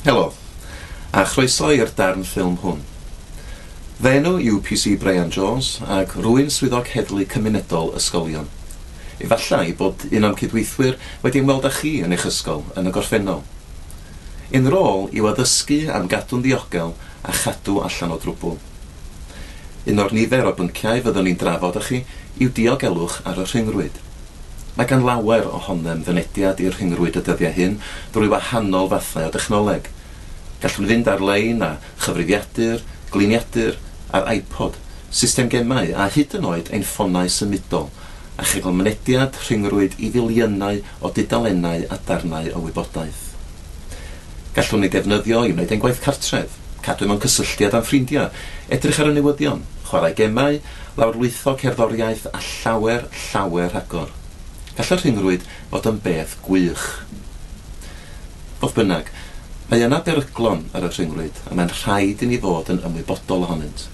Helo, a chroeso i'r darn ffilm hwn. Fy enw yw PC Bryan Jones ac rwy'n Swyddog Heddlu Cymunedol Ysgolion. Efallai bod un o'm cydweithwyr wedi ymweld â chi yn eich ysgol yn y gorffennol. Ein rôl yw addysgu am gadw'n ddiogel a chadw allan o drwbwl. Un o'r nifer o bynciau fyddwn ni'n drafod â chi yw diogelwch ar y rhyngrwyd. Mae gan lawer ohonom fynediad i'r rhyngrwyd y dyddiau hyn drwy wahanol fathau o dechnoleg. Gallwn fynd ar-lein â chyfrifiadur, gliniadur, a'r iPod, system gemau a hyd yn oed ein ffonau symudol, a chael mynediad rhyngrwyd i filiynau o dudalennau a darnau o wybodaeth. Gallwn ei defnyddio i wneud ein gwaith cartref, cadw mewn cysylltiad â'n ffrindiau, edrych ar y newyddion, chwarae gemau, lawrlwytho cerddoriaeth a llawer, llawer rhagor. Gall y rhyngrwyd fod yn beth gwych. Fodd bynnag, mae yna beryglon ar y rhyngrwyd a mae'n rhaid i ni fod yn ymwybodol ohonynt.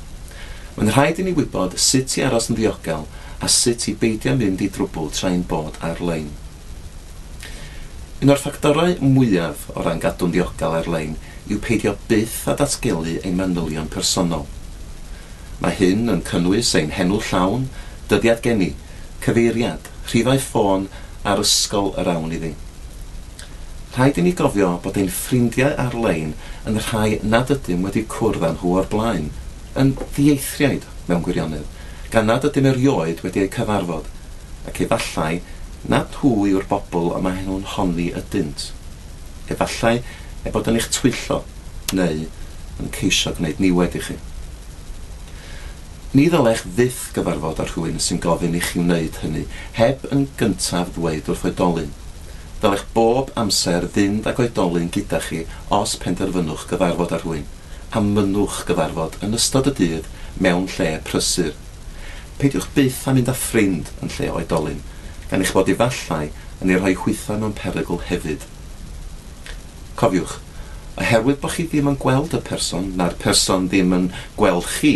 Mae'n rhaid i ni wybod sut i aros yn ddiogel a sut i beidio mynd i drwbl tra ein bod ar-lein. Un o'r ffactorau mwyaf o ran gadw'n ddiogel ar-lein yw peidio byth â datgelu ein manylion personol. Mae hyn yn cynnwys ein henw llawn, dyddiad geni, cyfeiriad, rhifau ffôn a'r ysgol yr awn iddi. Rhaid i ni gofio bod ein ffrindiau ar-lein yn rhai nad ydym wedi cwrdd â nhw o'r blaen, yn ddieithriaid mewn gwirionedd, gan nad ydym erioed wedi eu cyfarfod, ac efallai nad hwy yw'r bobl y maen nhw'n honni ydynt. Efallai eu bod yn eich twyllo neu yn ceisio gwneud niwed i chi. Ni ddylech fyth gyfarfod â rhywun sy'n gofyn i chi wneud hynny heb yn gyntaf ddweud wrth oedolyn. Dylech bob amser fynd ag oedolyn gyda chi os penderfynwch gyfarfod â rhywun, a mynnwch gyfarfod yn ystod y dydd mewn lle prysur. Peidiwch byth â mynd â ffrind yn lle oedolyn, gan eich bod efallai yn ei rhoi hwytha mewn perygl hefyd. Cofiwch, oherwydd bod chi ddim yn gweld y person, na'r person ddim yn gweld chi,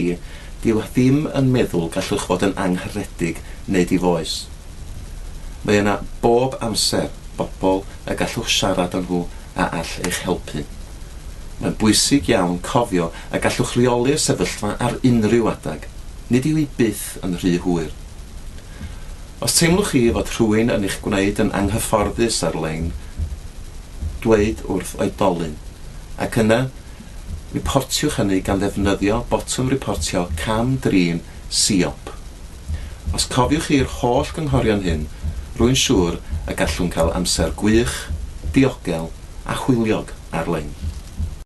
dyw e ddim yn meddwl gallwch fod yn angharedig neu difoes. Mae yna bob amser bobl y gallwch siarad â nhw a all eich helpu. Mae'n bwysig iawn cofio y gallwch reoli'r sefyllfa ar unrhyw adeg. Nid yw hi byth yn rhy hwyr. Os teimlwch chi fod rhywun yn eich gwneud yn anghyfforddus ar-lein, dweud wrth oedolyn, ac yna riportiwch hynny gan ddefnyddio botwm riportio cam-drin Siop. Os cofiwch chi'r holl gynghorion hyn, rwy'n siŵr y gallwn cael amser gwych, diogel a hwyliog ar-lein.